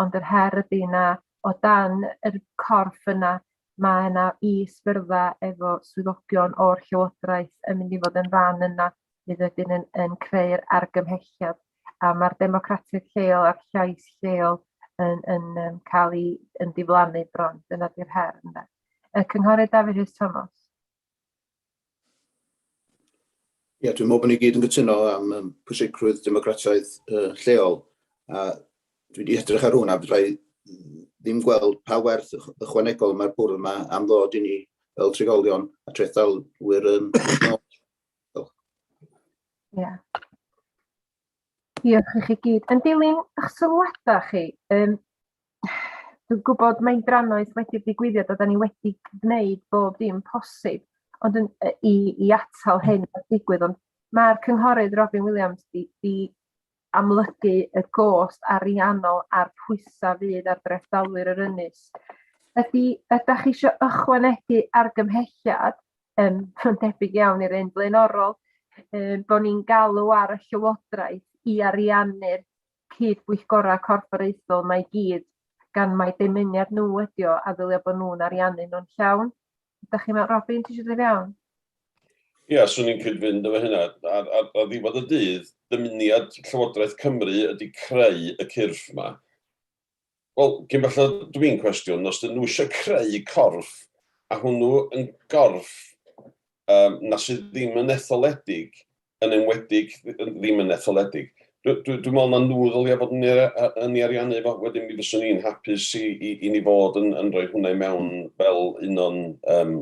ond yr her ydi na o dan yr corff yna mae yna is-fyrddau efo swyddogion o'r Llywodraeth yn mynd i fod yn rhan yna fydd wedyn yn, yn creu'r argymhelliad a mae'r democratiaeth lleol a'r llais lleol yn, yn, yn cael ei yn diflannu bron. Dyna di'r her yna. Y cynghorydd David Rhys Thomas. Ie, dwi'n meddwl bod ni gyd yn gytuno am um, pwysigrwydd democratiaeth uh, lleol. A dwi wedi edrych ar hwnna, byddai ddim gweld pa werth ychwanegol mae'r bwrdd yma am ddod i ni fel trigolion a trethdalwyr yn Ia. Diolch i chi gyd. Yn dilyn ych sylwada chi, yym dwi'n gwybod mae'n drannoeth wedi'r digwyddiad a 'dan ni wedi gwneud bob dim posib ond yn yy i i atal hyn o ddigwydd ond ma'r cynghorydd Robin Williams 'di 'di amlygu y gost ariannol a'r pwysau fydd ar drethdalwyr yr ynys. Ydy, ydych chi eisiau ychwanegu argymhelliad, um, yn debyg iawn i'r un blaenorol, um, bod ni'n galw ar y llywodraeth i ariannu'r cyd-bwyllgorau corfforaethol mae gyd, gan mae dymuniad nhw ydi o a ddylio bod nhw'n ariannu nhw'n llawn. Da chi mewn, Robin, ti eisiau dod i fewn? Ie, yeah, swn i'n cyd-fynd efo hynna. Ar, ar, ar ddiwedd y dydd, dymuniad Llywodraeth Cymru ydy creu y cyrff yma. Wel, gyn falle dwi'n cwestiwn, os dyn nhw eisiau creu corff, a hwnnw yn gorff um, na sydd ddim yn etholedig yn enwedig ddim yn etholedig. Dwi, dwi, dwi'n meddwl na nhw ddylai fod yn, yn ei ariannu fo, wedyn mi fyswn i'n hapus i, i, i ni fod yn, yn rhoi hwnna i mewn fel un o'n, um,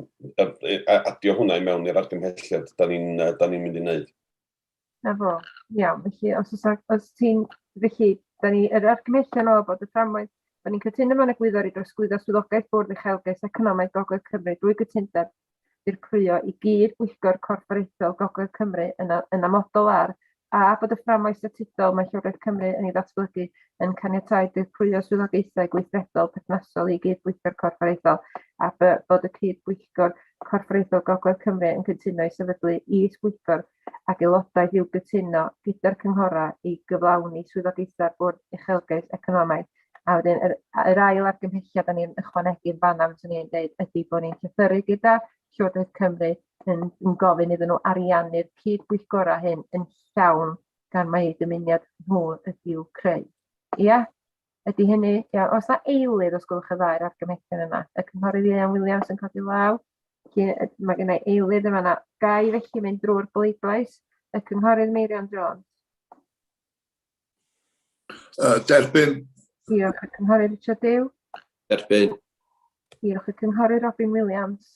adio hwnna i mewn i'r argymhelliad da ni'n ni mynd i wneud. Na fo, iawn, felly os, os, os ti'n, felly, da ni, yr argymhellion o bod y fframwaith Byddwn ni'n cytuno mewn egwyddor i drosglwyddo swyddogaeth Bwrdd Uchelgais Economaidd Gogledd Cymru drwy gytundeb ddirprwyo i gyd Bwyllgor Corfforaethol Gogledd Cymru yn yn amodol ar, a bod y fframwaith statudol mae Llywodraeth Cymru yn ei ddatblygu yn caniatáu dirprwyo swyddogaethau gweithredol perthnasol i gyd Bwyllgor Corfforaethol, a by, bod y cyd Bwyllgor Corfforaethol Gogledd Cymru yn cyntuno i sefydlu is Bwyllgor ac Aelodaeth i'w gytuno gyda'r cynghorau i gyflawni swyddogaethau'r Bwrdd Uchelgais Economaidd. A wedyn yr, yr ail argymhelliad o'n i'n ychwanegu yn fanna, fyswn i'n dweud, ydy bod ni'n llythyru gyda Llywodraeth Cymru yn, yn gofyn iddyn nhw ariannu'r cyd-bwyllgorau hyn yn llawn gan mai eu dymuniad nhw ydyw creu. Ia? Ydy hynny, iawn. Oes na eilydd, os gwelwch y ddau'r argymellion yna? Y Cynghorydd Ieuan Williams yn codi law. Mae gen i eilydd yma yna. Gai felly mynd drwy'r bleidlais. Y Cynghorydd Meirion Jones. Uh, derbyn. Diolch y Cynghorydd Richard Dew. Derbyn. Diolch y Cynghorydd Robin Williams.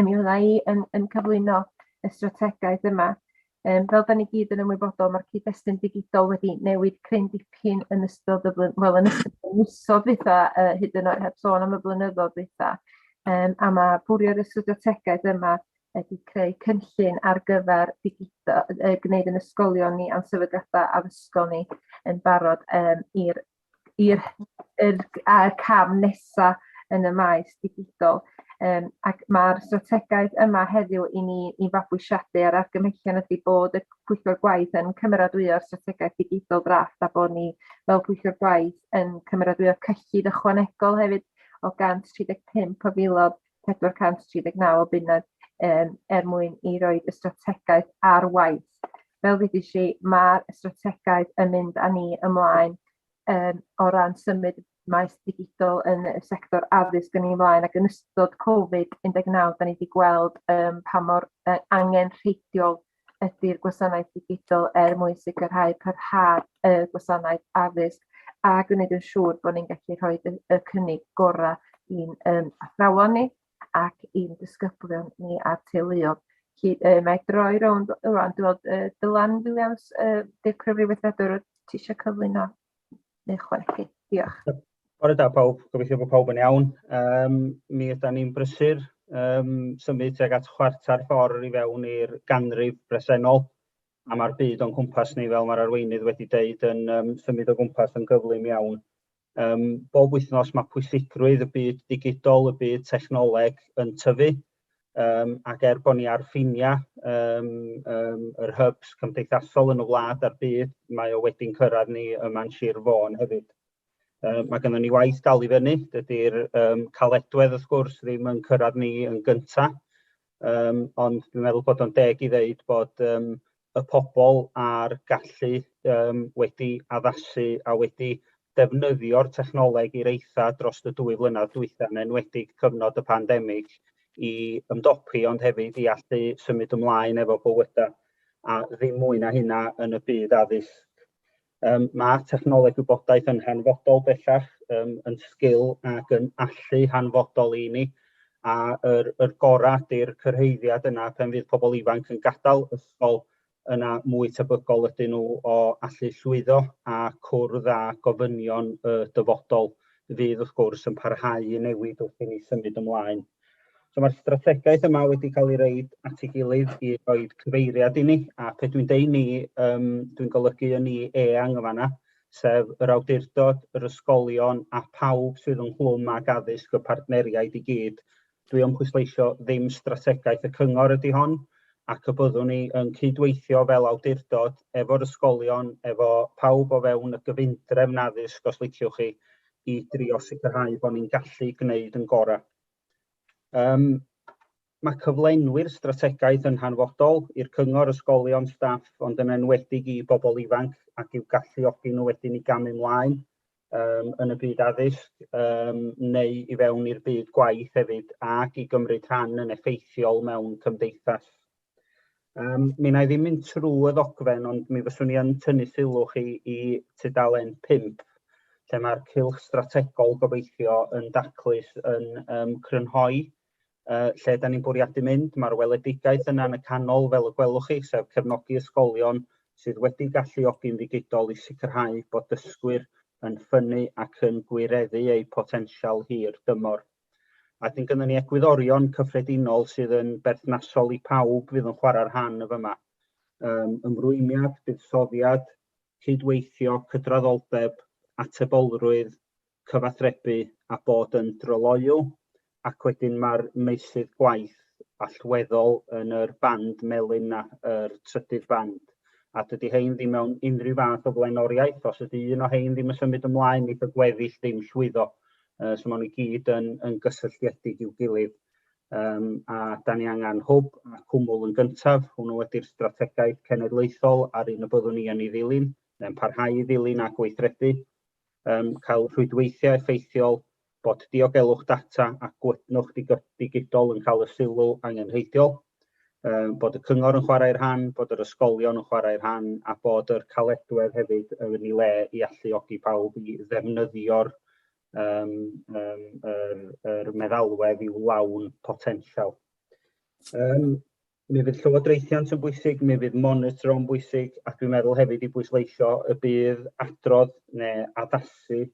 A mi fydda i yn yn cyflwyno y strategaeth yma. Yym fel 'dan ni gyd yn ymwybodol ma'r cyd-destun digidol wedi newid cryn dipyn yn ystod y flwy- wel yn ystod y misoedd dwytha yy hyd yn oed heb sôn am y blynyddoedd dwytha yym a ma' bwrie'r y strategaeth yma ydi creu cynllun ar gyfer digido- yy gneud yn ysgolion ni a'n sefydliada addysgol ni yn barod yym i'r i'r er, er cam nesaf yn y maes digidol. Um, ac mae'r strategaeth yma heddiw i ni i fabwysiadu ar argymhellion ydy bod y pwyllgor gwaith yn cymeradwyo'r strategaeth digidol drafft a bod ni fel pwyllgor gwaith yn cymeradwyo cyllid ychwanegol hefyd o 135 o filodd 439 o bunnau um, er mwyn i roi y strategaeth ar waith. Fel ddudis si, mae'r strategaeth yn mynd â ni ymlaen um, o ran symud maes digidol yn y sector addysg yn ei flaen ac yn ystod Covid-19 da ni wedi gweld um, pa mor uh, angen rheidiol ydy'r gwasanaeth ddigidol er mwyn sicrhau parhad y gwasanaeth addysg a gwneud yn siŵr bod ni'n gallu rhoi y, y cynnig gorau i'n um, athrawon ni ac i'n disgyblion ni a'r teuluodd. Felly, uh, mae droi rownd rwan, dwi'n gweld uh, Dylan Williams, uh, Dirprwy Weithredwr, ti eisiau cyflwyno Neu chwerthu. Diolch. Bore da pawb, gobeithio bod pawb yn iawn. Um, mi ydym ni'n brysur um, symud tuag at chwarter ffordd i fewn i'r ganrif bresennol a mae'r byd o'n cwmpas ni fel mae'r arweinydd wedi deud yn um, symud o gwmpas yn gyflym iawn. Um, bob wythnos mae pwysigrwydd y byd digidol, y byd technoleg yn tyfu um, ac er bod ni ar ffiniau um, um, yr hubs cymdeithasol yn y wlad a'r byd, mae o wedi'n cyrraedd ni yma'n Sir Fôn hefyd. Um, mae gennym ni waith dal i fyny, dydy'r um, caledwedd wrth gwrs ddim yn cyrraedd ni yn gyntaf, um, ond dwi'n meddwl bod o'n deg i ddeud bod um, y pobl a'r gallu um, wedi addasu a wedi defnyddio'r technoleg i'r eitha dros y dwy flynedd dwytha yn enwedig cyfnod y pandemig i ymdopi ond hefyd i allu symud ymlaen efo bywydau a ddim mwy na hynna yn y byd addysg. Um, mae technoleg wybodaeth yn hanfodol bellach, um, yn sgil ac yn allu hanfodol i ni, a yr, yr gorau ydy'r cyrhaeddiad yna pan fydd pobl ifanc yn gadael ysgol yna mwy tebygol ydyn nhw o allu llwyddo a cwrdd â gofynion y dyfodol fydd wrth gwrs yn parhau i newid wrth i ni symud ymlaen. So mae'r strategaeth yma wedi cael ei reid at ei gilydd i roi cyfeiriad i ni, a pe dwi'n deud ni, um, dwi'n golygu yn ni eang yn fanna, sef yr awdurdod, yr ysgolion a phawb sydd yn hlwm ag addysg y partneriaid i gyd. Dwi yn pwysleisio ddim strategaeth y cyngor ydy hon, ac y byddwn ni yn cydweithio fel awdurdod efo'r ysgolion, efo pawb o fewn y gyfundrefn addysg os liciwch chi, i drio sicrhau bod ni'n gallu gwneud yn gorau. Um, mae cyflenwi'r strategaeth yn hanfodol i'r cyngor, ysgolion, staff, ond yn enwedig i bobl ifanc ac i'w galluogi nhw wedyn i gamu mlaen um, yn y byd addysg um, neu i fewn i'r byd gwaith hefyd ac i gymryd rhan yn effeithiol mewn cymdeithas Um, mi na i ddim mynd trwy y ddogfen, ond mi fyswn i yn tynnu sylw chi i tudalen 5, lle mae'r cilch strategol gobeithio yn daclus yn um, crynhoi uh, lle da ni'n bwriadu mynd. Mae'r weledigaeth yna yn y canol, fel y gwelwch chi, sef cefnogi ysgolion sydd wedi galluogi'n ddigidol i sicrhau bod dysgwyr yn ffynnu ac yn gwireddu eu potensial hir dymor. A wedyn gynnon ni egwyddorion cyffredinol sydd yn berthnasol i pawb fydd yn chwarae rhan y fyma. Um, ymrwymiad, buddsoddiad, cydweithio, cydraddoldeb, atebolrwydd, cyfathrebu a bod yn dryloyw, ac wedyn mae'r meysydd gwaith allweddol yn yr band melyn na, yr trydydd band. A dydy hein ddim mewn unrhyw fath o flaenoriaeth, os ydy un o hein ddim yn symud ymlaen, neith y gweddill ddim llwyddo. Uh, so maen nhw gyd yn, yn gysylltiedig i'w gilydd. Um, a da ni angen hwb a cwmwl yn gyntaf, hwnnw wedi'r strategaeth cenedlaethol ar un y byddwn ni yn ei ddilyn, neu'n parhau i ddilyn a gweithredu. Um, cael rhwydweithiau effeithiol, bod diogelwch data a gwydnwch digidol yn cael y sylw angenrheidiol. Yym bod y cyngor yn chwarae rhan, bod yr ysgolion yn chwarae rhan a bod yr caledwedd hefyd yn ei le i alluogi pawb i ddefnyddio'r um, um, er, er meddalwedd i'w lawn potensial. Um, mi fydd llywodraethiant yn bwysig, mi fydd monitro yn bwysig, ac dwi'n meddwl hefyd i bwysleisio y bydd adrodd neu addasu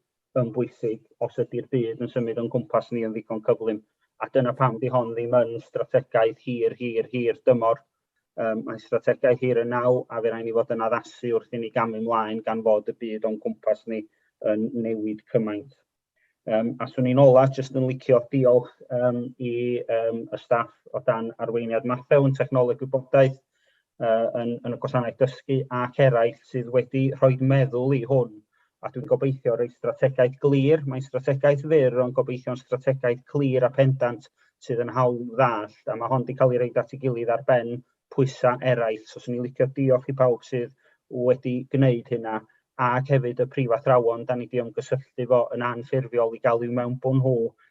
yn bwysig os ydy'r byd yn symud o'n cwmpas ni yn ddigon cyflym. A dyna pam di hon ddim yn strategaeth hir, hir, hir dymor. Um, mae'n strategaeth hir yn naw a fe rhaid ni fod yn addasu wrth i ni gamu mlaen gan fod y byd o'n cwmpas ni yn newid cymaint. Um, a swn i'n ola jyst yn licio diolch um, i um, y staff o dan arweiniad Mathew yn technoleg gwybodaeth uh, yn, yn y gwasanaeth dysgu ac eraill sydd wedi rhoi meddwl i hwn. A dwi'n gobeithio rhoi strategaeth glir, mae'n strategaeth fyr ond gobeithio'n strategaeth clir a pendant sydd yn hawl ddall, a mae hon wedi cael ei reid at ei gilydd ar ben pwysau eraill. So, swn i'n licio diolch i pawb sydd wedi gwneud hynna, ac hefyd y prifathrawon, da ni wedi ymgysylltu fo yn anffurfiol i gael i'w mewn bod nhw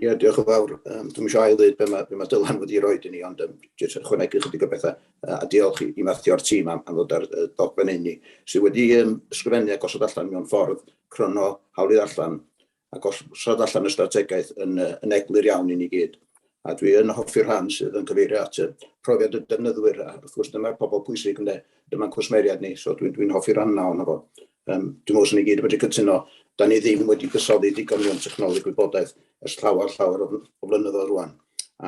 Ie, diolch yn fawr. Um, Dwi'n eisiau ail-ddweud beth mae, be mae Dylan wedi rhoi i ni, ond um, jyst yn chwanegu chydig o bethau. Uh, a diolch i, i Matthew o'r tîm am, am ddod ar uh, dogfen inni, sydd wedi um, ysgrifennu a gosod allan mewn ffordd crono hawlydd allan a gosod allan y strategaeth yn, uh, yn eglur iawn i ni gyd. A dwi yn hoffi'r rhan sydd yn cyfeirio at y profiad y defnyddwyr, a wrth gwrs dyma'r pobl pwysig ynde, dyma'n cwsmeriad ni, so dwi'n dwi, dwi hoffi'r rhan yna o'n fo. Yym, dwi'n meddwl 'swn ni gyd yn medru cytuno, 'dan ni ddim wedi cysoddi digon mewn technoleg gwybodaeth ers llawer llawer o fl- o flynyddoedd rŵan,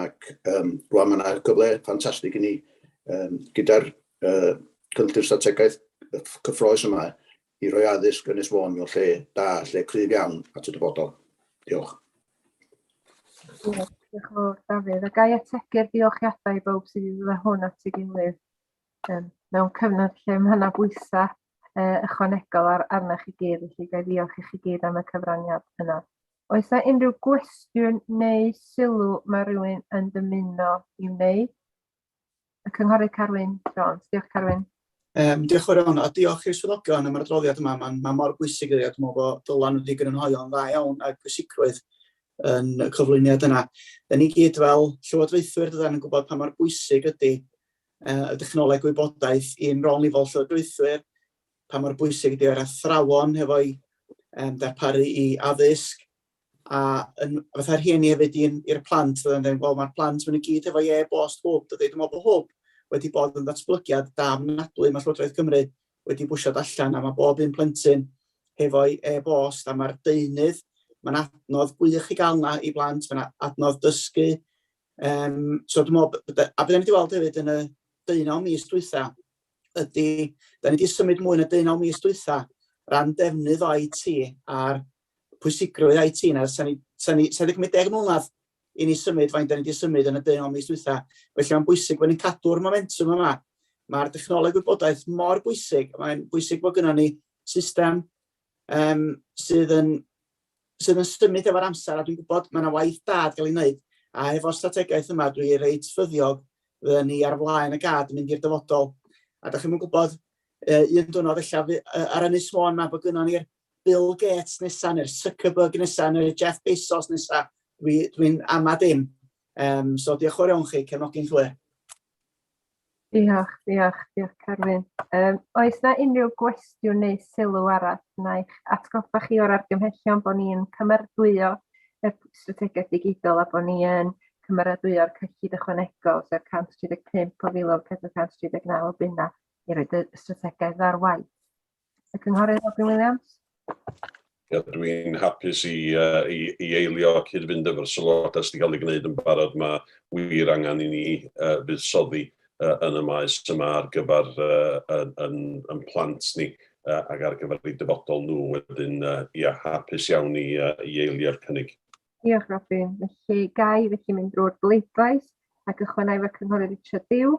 ac yym rŵan ma' 'na gyfle ffantastig i ni yym gyda'r yy cynllun strategaeth yy cyffrous yma i roi addysg Ynys Môn mewn lle da, lle cryf iawn at y dyfodol. Diolch. Diolch yn fawr Dafydd, a ga i ategu'r diolchiadau i bawb sydd wedi dod â hwn at ei gilydd. Yym mewn cyfnod lle ma' 'na bwysa' yy ychwanegol ar arnoch chi gyd felly ga' i ddiolch i chi gyd am y cyfraniad yna. Oes 'na unrhyw gwestiwn neu sylw ma' rywun yn dymuno i wneud? Y cynghorydd Carwyn Jones. Diolch Carwyn. Yym diolch yn fawr iawn a diolch i'r swyddogion am yr adroddiad yma ma'n ma' mor bwysig iddi a dwi me'wl bo' dylan wedi grynhoi o'n dda iawn ag pwysigrwydd yn y cyflwyniad yna. 'Dyn ni gyd fel llywodraethwyr dydan yn gwbod pa mor bwysig ydi y dechnoleg wybodaeth i'n rôl ni fel llywodraethwyr, pa mor bwysig ydy o'r athrawon hefo'i um, darparu i addysg, a yn, fatha rhieni hefyd i'n i'r plant, fydda'n dweud, wel mae'r plant maen nhw gyd hefo ie bost hwb, dydy, dwi'n meddwl bod hwb wedi bod yn ddatblygiad da mnadwy, mae Llywodraeth Cymru wedi bwysio allan a mae bob un plentyn hefo'i e-bost a mae'r deunydd, mae'n adnodd gwych i gael yna i blant, mae'n adnodd dysgu, Um, so dwi'n meddwl, a byddai'n wedi weld hefyd yn y deunaw mis dwytha, ydy, da ni wedi symud mwy yn y deunaw mis dwytha ran defnydd o IT a'r pwysigrwydd IT na, sa'n ni, sa ni, sa ni cymryd deg mlynedd i ni symud faint da ni wedi symud yn y deunaw mis dwytha. Felly mae'n bwysig bod ni'n cadw'r momentum yma. Mae'r dechnoleg wybodaeth mor bwysig, mae'n bwysig bod gynnal ni system um, sydd yn sydd yn symud efo'r amser, a dwi'n gwybod mae yna waith da gael ei wneud, a efo'r strategaeth yma dwi reit ffyddiog fydden ni ar flaen y gad yn mynd i'r dyfodol. A da chi'n mynd gwybod, e, un dwrnod efallai e, ar Ynys Môn mae bod gynnon ni'r Bill Gates nesaf, neu'r Zuckerberg nesaf, neu'r Jeff Bezos nesaf, dwi'n dwi, dwi ama dim. Um, so diolch o'r iawn chi, cefnogi'n llwyr. Diolch, diolch, diolch Carwyn. Um, oes na unrhyw gwestiwn neu sylw arall? Na'i'ch atgoffa chi o'r argymhellion bod ni'n cymeradwyo y strategaeth digidol a bod ni yn cymeradwyo'r cyllid ychwanegol, sef 135 o filoedd 439 o bunna i roed y strategaeth ar waith. Y Cynghorydd Robin Williams. Ia, dwi'n hapus i, uh, i, i eilio cyd-fynd efo'r sylwadau sydd wedi cael ei gwneud yn barod. Mae wir angen i ni uh, fuddsoddi uh, yn y maes yma ar gyfer uh, yn, yn, yn plant ni uh, ac ar gyfer ei dyfodol nhw. Wedyn, uh, ia, hapus iawn i, uh, i eilio'r cynnig. Diolch, Robin. Felly, gai felly mynd drwy'r bleidlais ac ychwanegu fy Cynghorydd Richard Dew.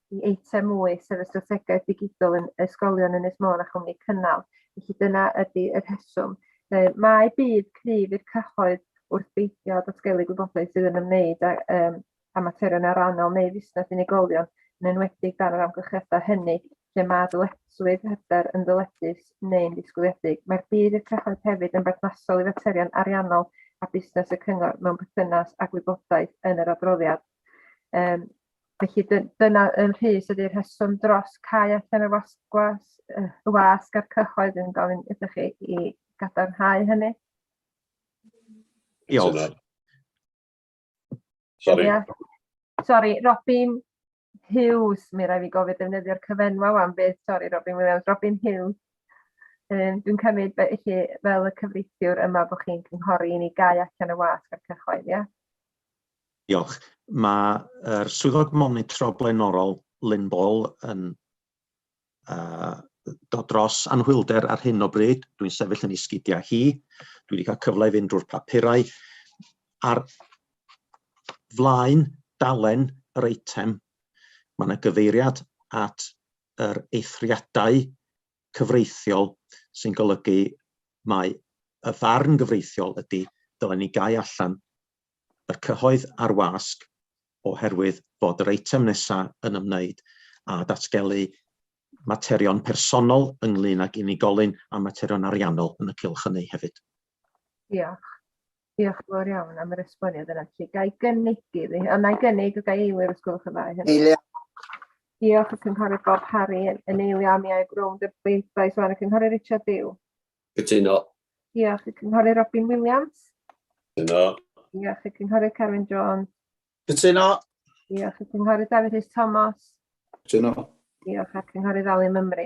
i eitem mwy, sef y strategaeth ddigidol yn ysgolion Ynys Môn a chwmni cynnal. Felly dyna ydy y rheswm. Mae bydd cryf i'r cyhoedd wrth beidio â datgelu gwybodaeth sydd yn ymwneud â um, a materion arannol neu fusnes unigolion, yn enwedig dan yr amgylchiadau hynny lle mae dyletswydd hyder yn ddyledus neu'n ddisgwyliedig. Mae'r bydd i'r cyhoedd hefyd yn berthnasol i faterion ariannol a busnes y cyngor mewn perthynas â gwybodaeth yn yr adroddiad. Um, Felly dy, dyna yn rhys ydy'r rheswm dros cael allan y wasgwas, y wasg a'r cyhoedd yn gofyn ydych chi i gadarnhau hynny. Diolch. Sorry. Sorry, Robin Hughes, mi rai fi gofio defnyddio'r cyfenwa am beth, sorry Robin Williams, Robin Hughes. Um, Dwi'n cymryd felly fel y cyfreithiwr yma bod chi'n cynghori i ni gau allan y wasg a'r cyhoedd, ie? Yeah? Diolch. Mae yr Swyddog Monitro blaenorol, Lynne Ball, yn dod dros anhwylder ar hyn o bryd. Dwi'n sefyll yn ei sgidiau hi. Dwi wedi cael cyfle i fynd drwy'r papurau. Ar flaen dalen yr eitem, mae yna gyfeiriad at yr eithriadau cyfreithiol sy'n golygu mae y farn gyfreithiol ydy dylen ni gau allan y cyhoedd ar wasg oherwydd bod yr eitem nesaf yn ymwneud â datgelu materion personol ynglŷn ag unigolyn a materion ariannol yn y cylch hynny hefyd. Diolch. Diolch yn fawr iawn am yr esboniad yna. Felly, ga i gynnig i fi, ond na i gynnig, ga i eilio os gwelwch yn dda i hynny? Eilio. Diolch y Cynghorydd Bob Parry yn eilio am i aeg rownd y bleidlais o'n y Cynghorydd Richard Dew. Cytuno. Diolch i Cynghorydd Robin Williams. Cytuno. Diolch i Cynghorydd Carwyn Jones. Cytuno. Diolch i Cynghorydd Dafydd Rhys Thomas. Cytuno. Diolch a Cynghorydd Ali Mymru.